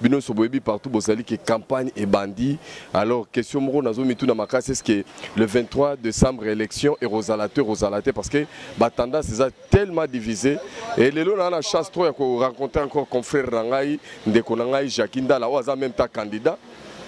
bino nso boyebi partout bozali ke campagne ebandi alors question moko nazo mitu na makasi est ce que le 23 décembre élection ekozala te ekozala te parce que ba tendance eza tellement divisé et lelo na na chance trop ya ko rencontrer encore confrère na ngai ndeko na ngai Jacques Ndala oyo aza même ta candidat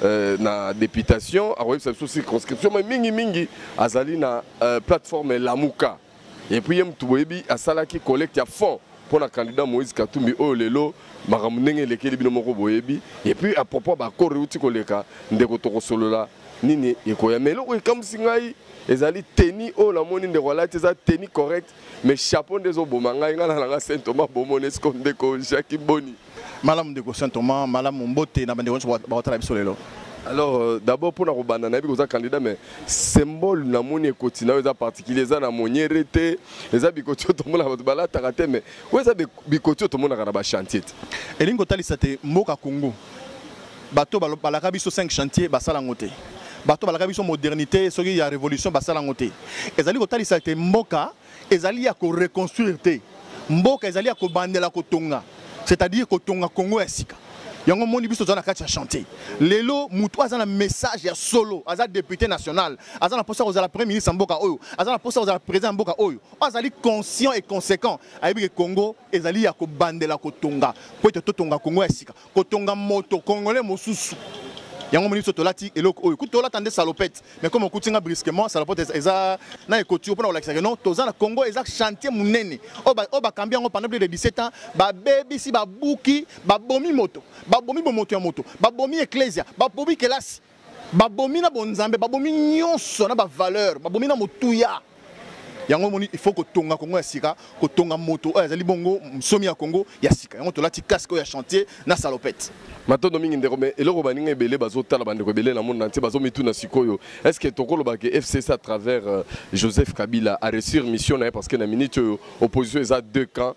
Euh, na députation akoyebisa biso circonscription mais mingi mingi azali na euh, plateforme lamuka et puis ye mutu boyebi asalaki collecte ya fond mpo na candidat moïse katumbi oyo lelo makambo ndenge elekeli bino moko boyebi et puis à propos bakoro euti koleka ndeko tokosolola nini ekoya mais eloko ekamwisi ngai ezali teni oyo namoni ndeko alati eza teni correct mais chapeau nde ezoboma ngai ngai nalanga saint thomas bomoni esiko ndeko jaki boni Malamu ndeko Saint Thomas, malamu mbote na bande wonso bakotala biso lelo. Alors euh, d'abord pour na kobanda na yebi koza candidat mais symbole na moni ekoti na eza particulier eza na moniere te eza bikoti to mona bato balataka te mais oyo eza bikoti to mona kana ba chantier te. Elingi kotalisa te mboka Congo bato balaka biso 5 chantier basala ngo te. Bato balaka biso modernité soki ya révolution basala ngo te. Ezali kotalisa te mboka ezali ya ko reconstruire te mboka ezali ya kobandela kotonga c'est-à-dire kotonga Congo ya sika yango moni biso toza na kati ya chantier lelo moto aza na message ya solo aza député national aza na posa kozala premier ministre ya mboka oyo aza na posa kozala président ya mboka oyo azali conscient et conséquent ayebi ke congo ezali ya kobandela kotonga mpo ete totonga congo ya sika kotonga moto congolais mosusu yango moni biso tolati eloko oyo kutu tolata nde salopete mais comme okuti nga brusquement salopete eza na ekoti mpona kolakisa ke non toza na congo eza chantier monene oyo bakambi yango pendant plus de 17 ans babebisi babuki babomi moto babomi bomoto ya moto babomi eklesia babomi kelasi babomi na bonzambe babomi nyonso na bavaleur babomi na motuya yango omoni il faut kotonga kongo ya sika kotonga moto oyo azali bongo msomi ya kongo ya sika yango tolati casque oyo ya chantier na salopete matondo mingi ndeko me eloko baninga ebele bazotala bandeko ebele na monde entier bazomituna sikoyo est ce que tokolobake fcc à travers euh, joseph kabila aresur mission na ye parce que na minute oyo opposition eza deux camps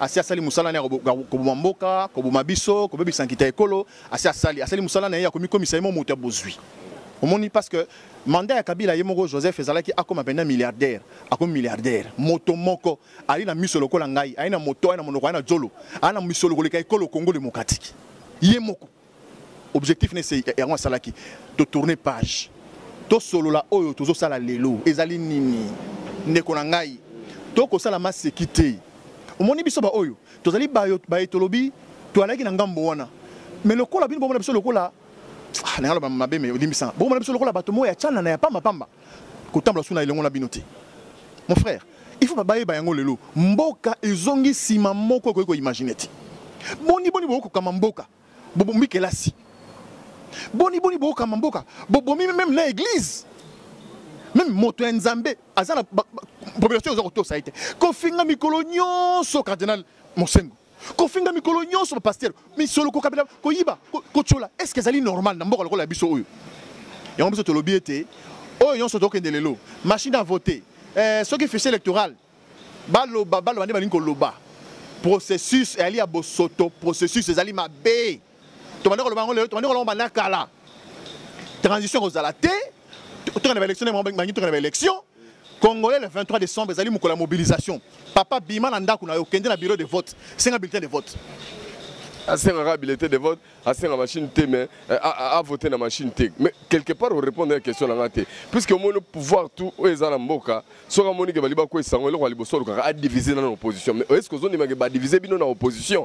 asi asali mosala na ya koboma mboka koboma biso kobebisa nkita ekolo asi asali asali mosala na ye ya komikomisa ye mo moto ya bozwi omoni parce que mandat ya kabila ye moko joseph ezalaki akoma mpenza milliardaire akomi milliardaire moto moko ali na miso lokola ngai aye na moto aye na monoko aye na jolo aye na misolo koleka ekolo kongo demokratike ye moko objectif ne se yango asalaki to tourner page tosolola oyo tozosala lelo ezali nini ndeko na ngai tokosala maseki te omoni biso baoyo tozali baye tolobi toalaki na ngambo wana me lokola bino bomona biso lokola ah, nayaloba mabe me olimbisa bomona biso lokola bato moko ya canana ya pambapamba kotambola suna elongo na bino te mon frère il faut bayeba yango lelo mboka ezongi nsima moko ekoki koimagine te boni boni bokokama mboka bobomi kelasi boni boni bokokama mboka bobomi meme na église meme moto ya nzambe aza na population oza kotosa ye te kofinga mikolo nyonso cardinal mosengo kofinga mikolo nyonso bapastere misolo kokabela koyiba kotyola est ce que ezali normal na mboka lokola ya biso oyo yango biso tolobi ete oyo nyonso tokende lelo machine à voter eh, soki fichier électoral baloba baloba nde balingi koloba processus eyali ya bosoto processus ezali mabe tobanda koloba yango lelo tobandi koloba banda kala transition ekozala te tokende baélection nde bangi tokende baélection congolais le 23 décembre ezali mokolo ya mobilisation papa bima na ndako na yo kende na bureau de vote senga bulletin de vote asengaka bilete de vote asenga machine te mais eh, avote na machine te mais quelque part orépondre ya question na nga te puisque omoni pouvoir tout oyo eza na mboka soki amoni ke bali bakweisango eloko ya liboso olukaka adivise na na opposition mais est ce que ozondimake badivise bino na opposition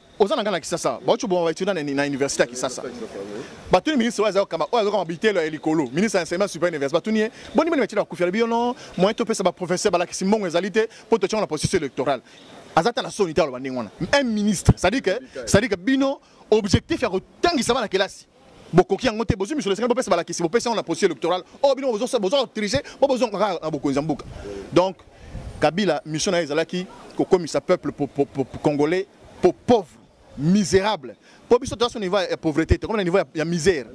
oza na ngai na kisasa bauti oboma baetuda na université ya kisasa batuni ministre oyo aza kokamba oyo azokamba bitelo ya likolo ministre ya enseignement supérieur université batuni ye boni boni batyela bakufi alobi yo no moyen topesa baprofesseur balakisi mbongo ezali te mpo totyango na processus électoral aza ata na soni te aloba ndenge wana un ministre cestadire que bino objectif ya kotangisa bana kelasi bokoki yango te bozwi misolo esengeli bopesa balakisi bopesi yango na processus électoral oyo oh, bino bozo triche po bozonga kaka na bokonzi ya mboka donc kabila mission na ye ezalaki kokomisa peuple congolais po pauvre misérable po biso toza so niveau ya pauvreté te komi na niveau ya misère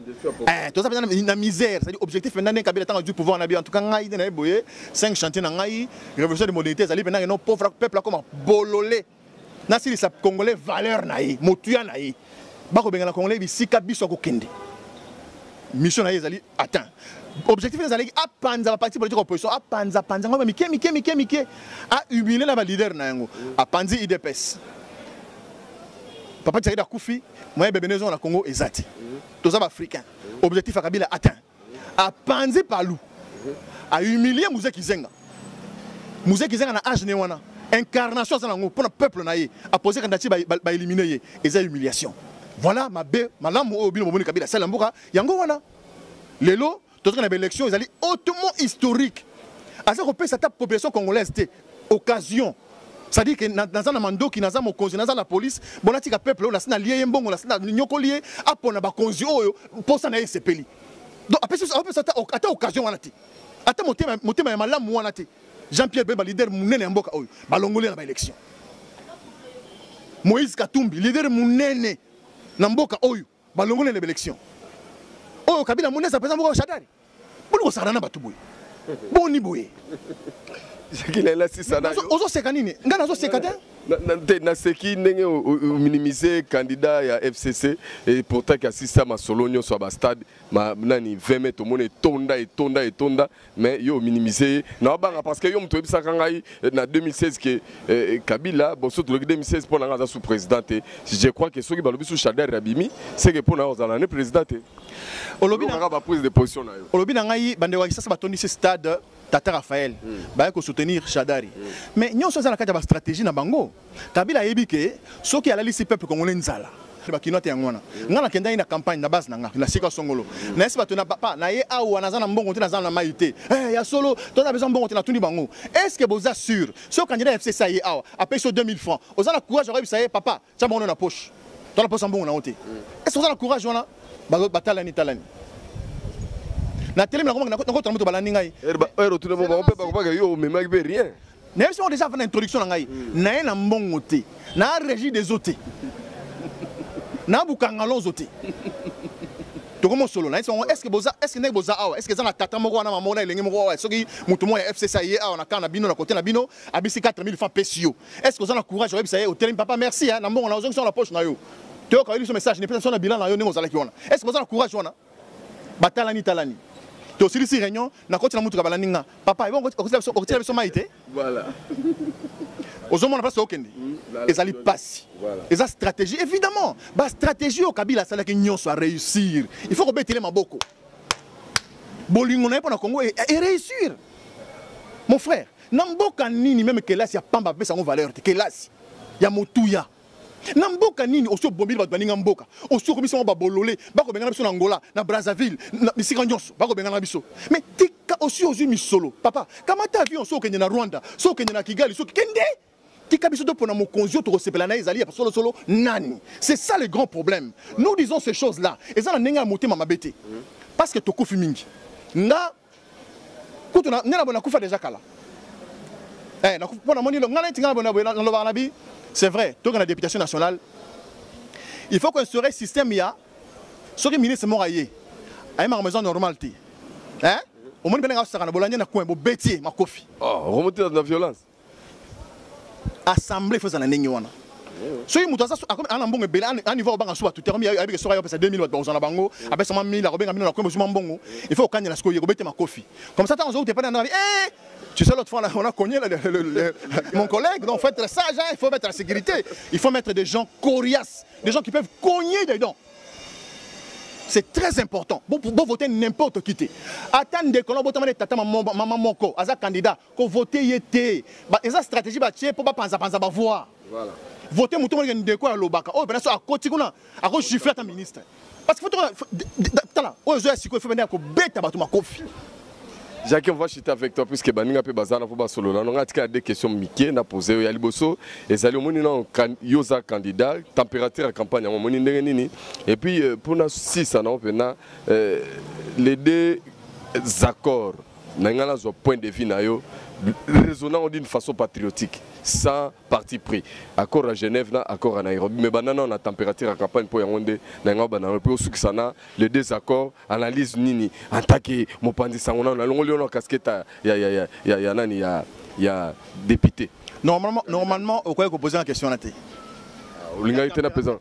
eh, toza mpenza na misère cetadi objectif mpenza nde kabila ntango azwi pouvoir na bio en tout cas ngai nde na ye boye 5 chantier na ngai révolution de modernité ezali mpenza keno pauvre peuple akoma bolole nasilisa congolais valeur na ye motuya na ye bakobengana congolais bisika biso akokende mission na ye ezali atteint objectif ezalaki apanza baparti politique opposition apanza panza yango mike mike mike mike ahumile na baleader na yango apanzi idps papa tshaida akufi moyen bebene ezonga na congo eza te toza baafricain objectif ya kabila atteint a panzi palu a humilie muze kizenga muze kizenga na age ne wana incarnation aza nango mpona peuple na ye apose kandidati baelimine ye eza humiliation voilà mabe malamu oyo bino bomoni kabila asala mboka yango wana lelo tozoka na baélection ezali hautement historique aza kopesa ata population congolaise te occasion c'est-à-dire que naza na mandoki naza mokonzi naza la police bonatika peuple oyo nasi nalie ye mbongo nasi nanyokoli ye apona bakonzi oyo mposa na ye esepeli donc apesi ata occasion wana te ata motema, motema ya malamu wana te jean pierre bemba leader monene ya mboka oyo balongoli na baélection moïse katumbi leader monene na mboka oyo Balongole na belection. Oyo Kabila amoni eza mpenza moko shadari. Boni kosakana na bato boye. Boni boye. Zekila elasi sana. Ozoseka nini? Ngai nazoseka te. te naseki ndenge ominimize candidat ya fcc e pourtant ki asisa masolo nyonso ya bastade nani 20 mai tomona etonda etonda etonda mais yo minimiser ye na obanga parce que yo moto oyebisaka ngai eh, na 2016 ke eh, eh, kabila boso toloki 2016 mpo na ngai aza sous président te je crois que soki balobi sous shader abimi seke mpo na yo ozala ne président te olobi nanga baprise de position na yo olobi na ngai bandeko ya kisasa batondisi stade tata raphaël mm. baye kosoutenir shadari mm. mais nyonso eza na kati ya bastratégie na bango Kabila ayebi ke soki alalisi peuple congolais nzala ba kinois te yango wana ngai nakendaki na campagne na base na ngai na sika songolo nayesi bato na papa na ye awa naza na mbongo te naza na mai te eh, ya solo toza besoin mbongo te natuni bango est ce que boza sur so candidat ya fcc ye awa apesi yo 2000 francs oza na courage okoyebisa ye papa tya bango na poche to na poche ya mbongo na yango te est ce que oza na courage wana batalani talani natelemi nakomaki nakotana moto balandi ngai heure otuna bango mpe bakobaka yo omemaki mpe rien nayebi soko deja avant na introduction na ngai mm. naye na mbongo te na régie des eaux te na bukanga lonzo te tokomi osolo na ye songo estce boza estce ndenge boza awa estce eza na tata moko wana mamoko na elenge moko awa soki moto moko ya fcc aye awa na kaa na bino na kote na bino abisi 4000 franc pesi yo estce oza na courage oyebisa ye otelemi papa merci na mbongo na ozongisa na poche na yo toyoka yo biso message nepesa biso na bilan na yo ndenge ozalaki wana estce boza na courage wana batalani talani tosilisi réunion nakoti na motuka balandi nga papa okotila biso mai te ozomona mpasi okende hmm, ezali mpasi eza stratégie évidemment bastratégie oyo kabila asalaki nyonso aréussir il faut kobetele maboko bolingo na ye mpo na congo eréussir mon frère na mboka nini meme kelasi ya pamba apesa yango valeur te kelasi ya motuya na mboka nini osi obombeli bato baninga mboka osi okomisi yango babolole bakobengana biso na angola na brazzaville na bisika nyonso bakobengana biso me tika osi ozwi misolo papa kamata avion so okende na rwanda so okende na kigali soki kende tika biso topona mokonzi oyo tokosepela na ye ezali ya solosolo nani c'est ça le grand problème nous disons ces choses là eza na ndenge ya motema mabe te parce que tokufi mingi nga kutu na nena bona kufa deja kala eh na pona moni lo ngana tinga bona bona lo bana bi c'est vrai to na députation nationale il faut qu'on serait système ya ce que ministre mora yé ay ma maison normale ti hein au moins ben nga sakana bolanya na coin bo betier makofi oh remonter dans la violence assemblée ifo ezala ndenge wana soki moto aza ana mbongo ebele anivo akobanga suba tute akomi ayebike soki ayopesa 2000 bato bakozwa na bango apesama 1000 akobenga bino na komi bozuma mbongo ifo okanyela sikoyo ye kobete makofi comme ça ntango azokuta epai na ndanga eh, Tu sais, l'autre fois, on a cogné le, le, le, mon collègue. Donc, faut être sage, hein, il faut mettre la sécurité. Il faut mettre des gens coriaces, des gens qui peuvent cogner des dents. C'est très important. Vous, vous votez n'importe qui. Attends, dès que l'on vote, maman moko, aza candidat, ko voter ye te ba eza stratégie ba tie po ba panza panza ba voix voilà voter mutu ngene ndeko ya lobaka oyo bana so akoti kuna ako gifler ta ministre parce que faut tala oyo zo ya siko faut bana ko beta batu makofi Jacques, on va chuter avec toi puisque baninga pe bazana pour basolo. On a tika des questions Mickey na posé yo yaliboso et zali omoni na yoza candidat température à campagne on moni ndenge nini et puis euh, pour na 6 na opena euh, les deux accords na ngai nazwa point de vue na yo raisonnant d'une façon patriotique sans parti pris accord à genève na accord à nairobi mais banda nao na température ya campagne mpo yango nde na yango banda mpe osukisa na le désaccord analyse nini antake mopanzi sango nano nalongoli yo na casquette ya, ya, ya, ya, ya nani ya, ya député Normalement, normalement, au quoi poser la question là olingaki te napesa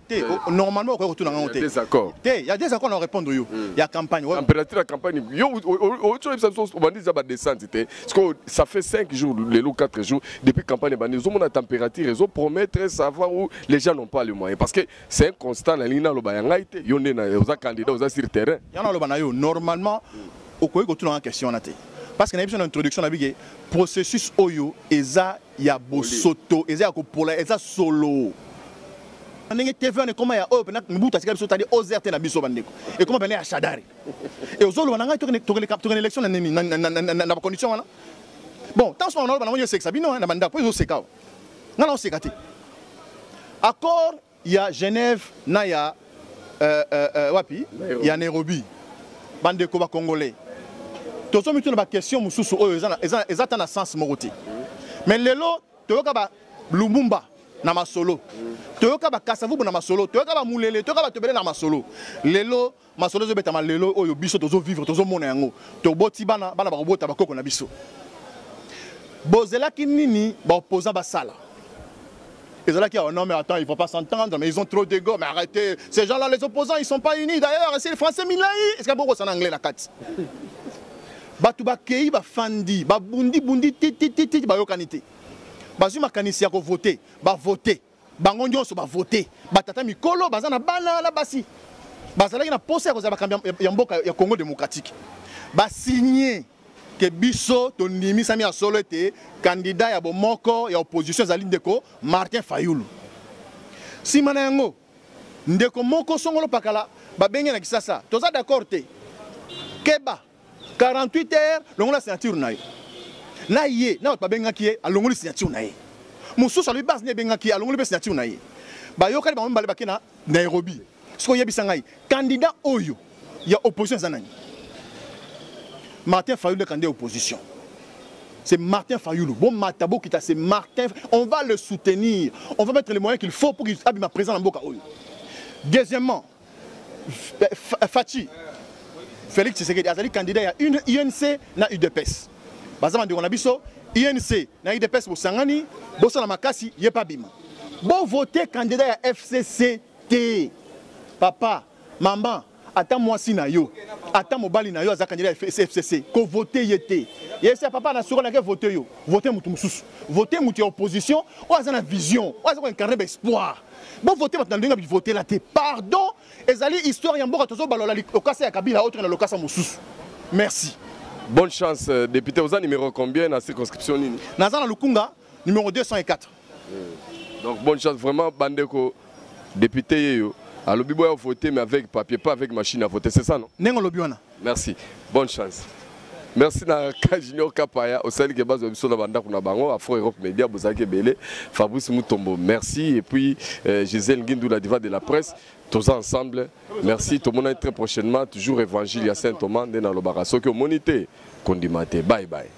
normalement okoki kotuna ngango te te ya des accords na répondre yo hmm. ya campagne température ya campagne yo ocoyebisa biso obandi eza badescente te sikoyo ça fait 5 jours lelo 4 jours depuis campagne ebandi ozomona température ezopromettre savoir où les gens n'ont pas le moyen parce que c'est un constat nalingi naloba ya ngai te yo nde oza candidat oza sur terrain ya naloba na yo normalement okoki kotuna nga question wana te parce que nayebi na introduction na bike processus oyo eza ya bosoto eza ya kopola eza solo ndenge tv wana ekoma ya oyo mpena mobutu atika biso tadi ozer te na biso bandeko ekoma mpena ya shadari e ozoloba na ngai tokende élection na nini na bacondition wana bon ntango soka naloba nango yo esekisa bino na bandako mpo ezoseka awa ngai naoseka te accord ya Genève na ya euh, euh, euh, wapi Nairobi. ya Nairobi bandeko ba congolais tozo mituna ba question mosusu oyo eza eza eza ta na sens moko te mais lelo toyoka ba Lumumba na masolo toyoka ba Kasavubu na masolo toyoka ba Mulele toyoka ba Tobele na masolo lelo masolo ezobetama lelo oyo biso tozo vivre tozo mona yango toboti bana bana bakobota bakoko na biso bozelaki nini baopposant basala ezalaki oh non mais attends ils vont pas s'entendre mais ils ont trop d'ego mais arrêtez ces gens là les opposants ils sont pas unis d'ailleurs c'est le français milai est ce que bokosana anglais na kati bato bakei bafandi babundi bundi titititi bayokani te bazwi makanisi ya kovote bavote bango nyonso bavote batata mikolo baza na bana na basi bazalaki na mposa ya kozala bakambi ya mboka ya congo démocratique basigne ke biso tondimisami ya solo ete kandida ya bomoko ya opposition ezali ndeko martin fayulu nsima na yango ndeko moko songolo pakala babenge na kisasa toza d'accord te keba 48 heures longola signature na yo na ye na bato babengaki ye alongoli signature na ye mosusu alobi base nde ebengaki ye alongoli mpe signature na ye bayokani bango mibale bake na nairobi soki oyebisa ngai candidat oyo ya opposition eza nani martin fayulu nde candidat ya opposition c'est Martin Fayoulou. Bon, Matabo Kita, c'est Martin. On va le soutenir. On va mettre les moyens qu'il faut pour qu'il abîme ma présence en Boka Deuxièmement, Fatshi Felix Tshisekedi azali candidat ya UNC na UDPS. Baza bandeko na biso UNC na UDPS bosangani bosala makasi ye pa bima. Bo voter candidat ya FCC te. Papa, maman, ata mwasi na yo ata mobali na yo aza candidat ya fcc kovote ye te yesi ya papa na soko nake vote yo vote motu mosusu vote motu ya opposition oyo aza na vision oyo aza koincarne baespoir Bo voter bato na ndenge bi voter la te. Pardon, ezali histoire ya mboka tozo balola lokasa ya Kabila autre na lokasa mosusu. Merci. Bonne chance euh, député oza numéro combien na circonscription nini? Naza na Lukunga numéro 204. Hmm. Donc bonne chance vraiment bandeko député yeyo alobi boya voter mais avec papier pas avec machine à voter c'est ça non? Nengo lobi wana. Merci. Bonne chance. Merci na Junior Kapaya osali ke bazo biso na bandako na bango Afro Europe Media bozaki ebele Fabrice Mutombo merci et puis euh, Gisèle Ngindou la diva de la presse tous ensemble merci tout le monde très prochainement toujours évangile ya Saint Thomas ndena lobaka soki omonite kondimate bye bye